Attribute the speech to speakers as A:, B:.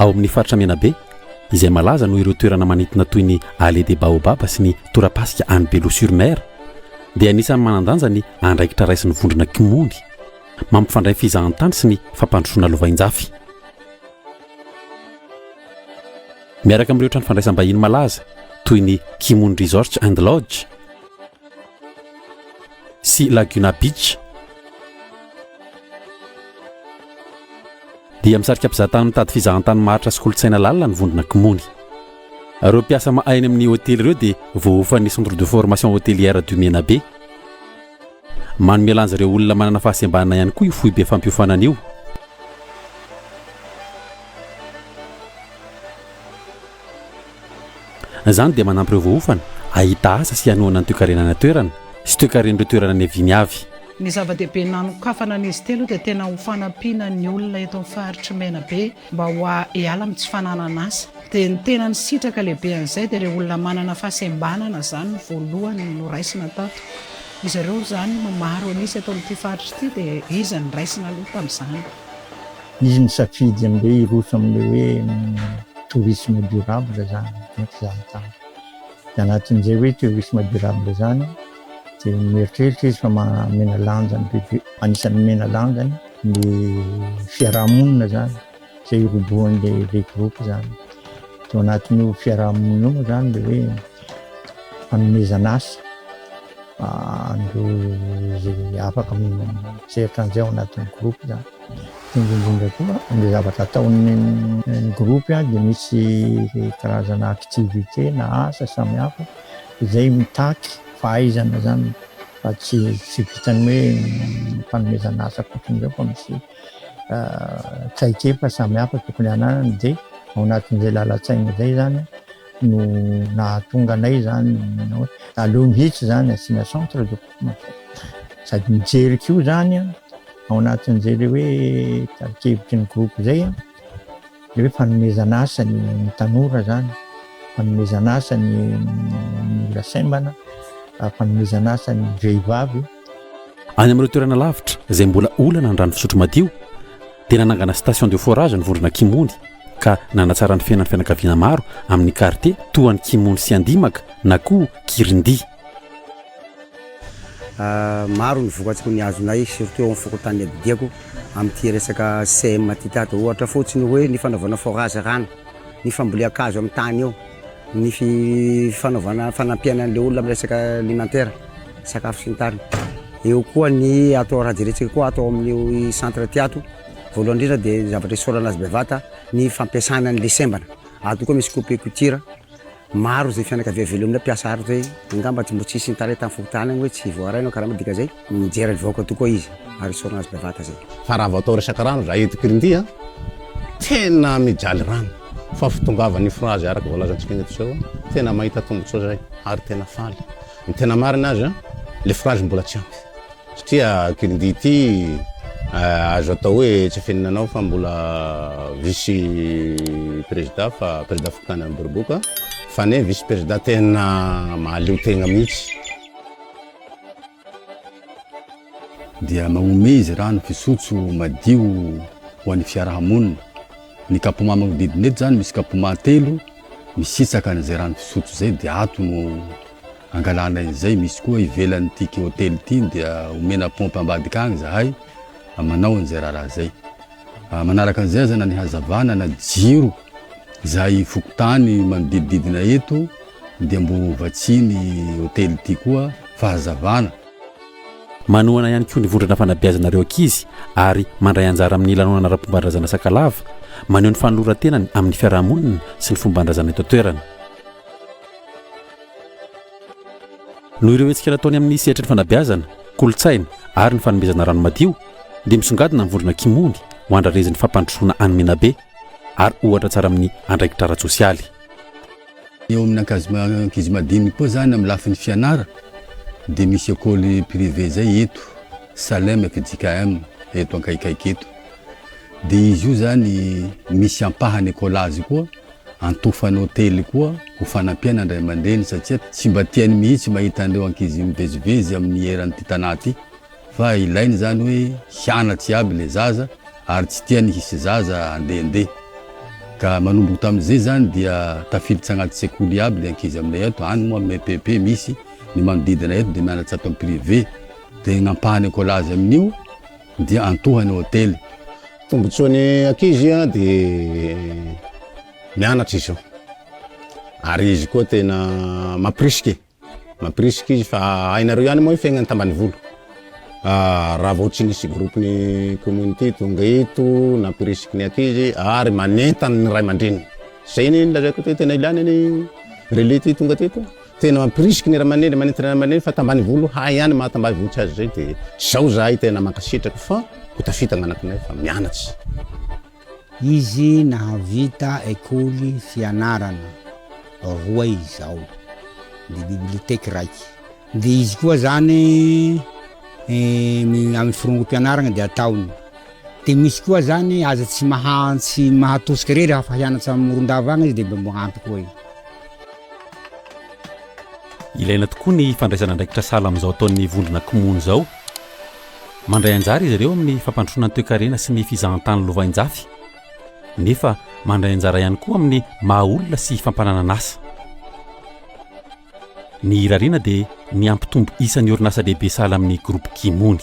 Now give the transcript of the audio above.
A: Ao amin' ny faritra Menabe, izay malaza noho ireo toerana manintona toy ny Allée des Baobabs sy ny torapasika any Bello-sur-Mer, dia anisan'ny manan-danja ny andraikitra raisin'ny vondrona Kmony mampifandray fizahantany sy ny fampandrosoana lovainjafy. Miaraka amin'ireo trano fandraisam-bahiny malaza toy ny Kmony Resorts and Lodge, sy Laguna Beach, dia misarika mpizahatany mitady fizahantany maharitra sy kolontsaina lalina ny vondrona Kmony. Ireo mpiasa mahay any amin'ny hotely ireo dia voaofan'ny Centre de Formation Hotelière du Menabe. Manome lanja ireo olona manana fahasembanana ihany koa io foibe fampiofanana io. Izany dia manampy ireo voaofana hahita asa sy hanohana ny toekarenana toerana sy toekaren'ireo toerana niaviany avy. Ny zava-dehibe
B: nanokafana an'izy telo io dia tena ho fanampiana ny olona eto amin'ny faritr'i Menabe mba ho hiala amin'ny tsy fananan'asa. Dia ny tena nisitraka lehibe an'izay dia ireo olona manana fahasembanana izany no voalohany noraisina tato. Izy ireo izany no maro an'isa eto amin'ity faritra ity dia izy no niraisina aloha tamin'izany. izy
C: nisafidy amin'ireo hiroso amin'ilay hoe tourisme durable izany dia izaho tany dia anatin'izay hoe tourisme durable izany dia mieritreritra izy fa mamena lanja ny bebe anisan'ny mamena lanja ny fiarahamonina izany izay hirobohan'ilay ilay groupe izany tao anatin'io fiarahamonina io moa izany dia hoe fanomezana asa Andeha afaka mieritreritra an'izay ao anatin'ny groupe zany. Dia indrindra koa ilay zavatra ataon'ny groupe dia misy karazana activité na asa samihafa izay mitaky fahaizana zany fa tsy tsy vitan'ny hoe fanomezana asa fotsiny izao fa misy traikefa samihafa tokony hananany dia ao anatin'izay lalan-tsaina izay zany no nahatonga anay zany manao hoe aleo mihitsy zany asiana centre de formation sady mijery koa zany an ao anatin'izay le hoe tarikevitry ny groupe zay an le hoe fanomezana asa ny tanora zany fanomezana asa ny ny olona saimbana fanomezana asa ny vehivavy Any
A: amin'ireo toerana lavitra izay mbola olana ny rano fisotro madio dia nanangana station de forage ny vondrona Kimony ka nanatsara ny fiainan'ny fianakaviana maro amin'ny kartie toa an'i Kimony sy Andimaka na koa Kirindia.
D: Maro ny vokatsoa nihazonay surtout eo amin'ny fokontany Abidiako amin'ity resaka CM ity tady. Ohatra fotsiny hoe ny fanaovana forage rano, ny fambolean-kazo amin'ny tany eo, ny fanaovana fanampiana an'ilay olona amin'ny resaka alimentaire. sakafo sy ny tariny. Eo koa ny atao raha jerentsika koa atao amin'ny centre ty ato voalohany indrindra dia ny zavatra isaorana azy bevata ny fampiasana an'ilay sembana ato koa misy coupe couture maro izay fianakavia velomina mpiasa ary izay angamba tsy mbo tsy hisy nitaraina tamin'ny fokontany agny hoe tsy voaray anao karama dika izay mijery ny vahoaka tokoa izy ary isaorana azy bevata izay fa raha vao atao resaka
E: rano za eto Kirindy a tena mijaly rano fa fitongavan'ny frazy araka voalazantsika eto izao tena mahita tombontsoa izay ary tena faly Ny tena marina aza, le phrase mbola tsy ampy. Satria kirindia ity azo atao hoe tsy afenina anao fa mbola vice prezida fa prezida fokontany Beroboka fa ne vice prezida tena mahaleo tegna mihitsy.
F: Dia magnomey izy rano fisotso madio ho an'ny fiaraha-monina. Ny kapoma manodidina eto zany misy kapoma telo misitsaka an'izay rano fisotro zay dia ato no angalana izay, misy koa ivelan'ity hotely ity dia omena pompe ambadika agny zahay manao an'izay raharaha zay. Manaraka an'izay aza na ny hazavana na jiro izay fokontany manodidididina eto dia mbo vatsian'ny hotely ity koa fahazavana.
A: Manohana ihany koa ny vondrona fanabeazana ireo ankizy ary mandray anjara amin'ny lanonana ara-pomban-drazana Sakalava, maneho ny fanoloran-tenany amin'ny fiarahamonina sy ny fomban-drazana eto an-toerana. Noho ireo hetsika nataony amin'ny sehatry ny fanabeazana, kolontsaina ary ny fanomezana rano madio, dia misongadina ny vondrona Kimony ho andrarezin'ny fampandrosoana any Menabe ary ohatra tsara amin'ny andraikitra ara-tsosialy.
F: Eo amin'ny ankizy madiniky koa zany amin'ny lafiny fianara dia misy école privée zay eto Salem ak JKM eto ankaikaiky eto dia izy io zany misy ampahany école azy koa antofany hotely koa ho fanampiana andray aman-dreny satsia tsy mba tiany mihitsy mahita an'ireo ankizy mivezivezy amin'ny eran'ity tanà ity Fa ilaina izany hoe hianatra iaby ilay zaza ary tsy tiany hisy zaza andehandeha. Ka manomboka tamin'izay izany dia tafiditra anaty sekoly iaby ilay ankizy aminay ato, any moa amin'ny EPP misy, ny manodidina eto dia mianatra ato amin'ny privé. Dia ny ampahany écolage amin'io dia antohany hotely. Tombontsoan'ny
E: ankizy dia mianatra izy io ary izy koa tena mampirisika e! Mampirisika izy fa hainareo ihany moa ny fiainan'ny tambanivolo. Raha vao tsy nisy groupe ny community tonga eto nampirisiky ny ankizy ary manentana ny ray aman-dreniny. Zay ny nilazaiko teo tena ilana ny relais ty tonga teto. Tena mampirisika ny ray aman-dreny, manentana ray aman-dreny fa tambanivolo hay ihany mahatambaivolo tsy azy zay dia zao zahay tena mankasitraka fa ho tafita ny anakinay fa mianatra.
G: Izy nahavita ekoly fianarana roa izao, dia biblioteque raiky. Dia izy koa zany amin'ny firongo-pianaragna dia ataony. Dia misy koa zany aza tsy maha tsy mahatosika re raha fa hianatra amin'ny moron-dava agny izy dia mba magnampy koa i.
A: Ilaina tokoa ny fandraisana andraikitra sahala amin'izao ataon'ny vondrona Kmon izao. Mandray anjara izy ireo amin'ny fampandrosoana ny toekarena sy ny fizahantany lovainjafy, nefa mandray anjara ihany koa amin'ny maha olona sy fampananana asa. Ny irariana dia ny hampitombo isan'ny orinasa lehibe sahala amin'ny Groupe Kimony.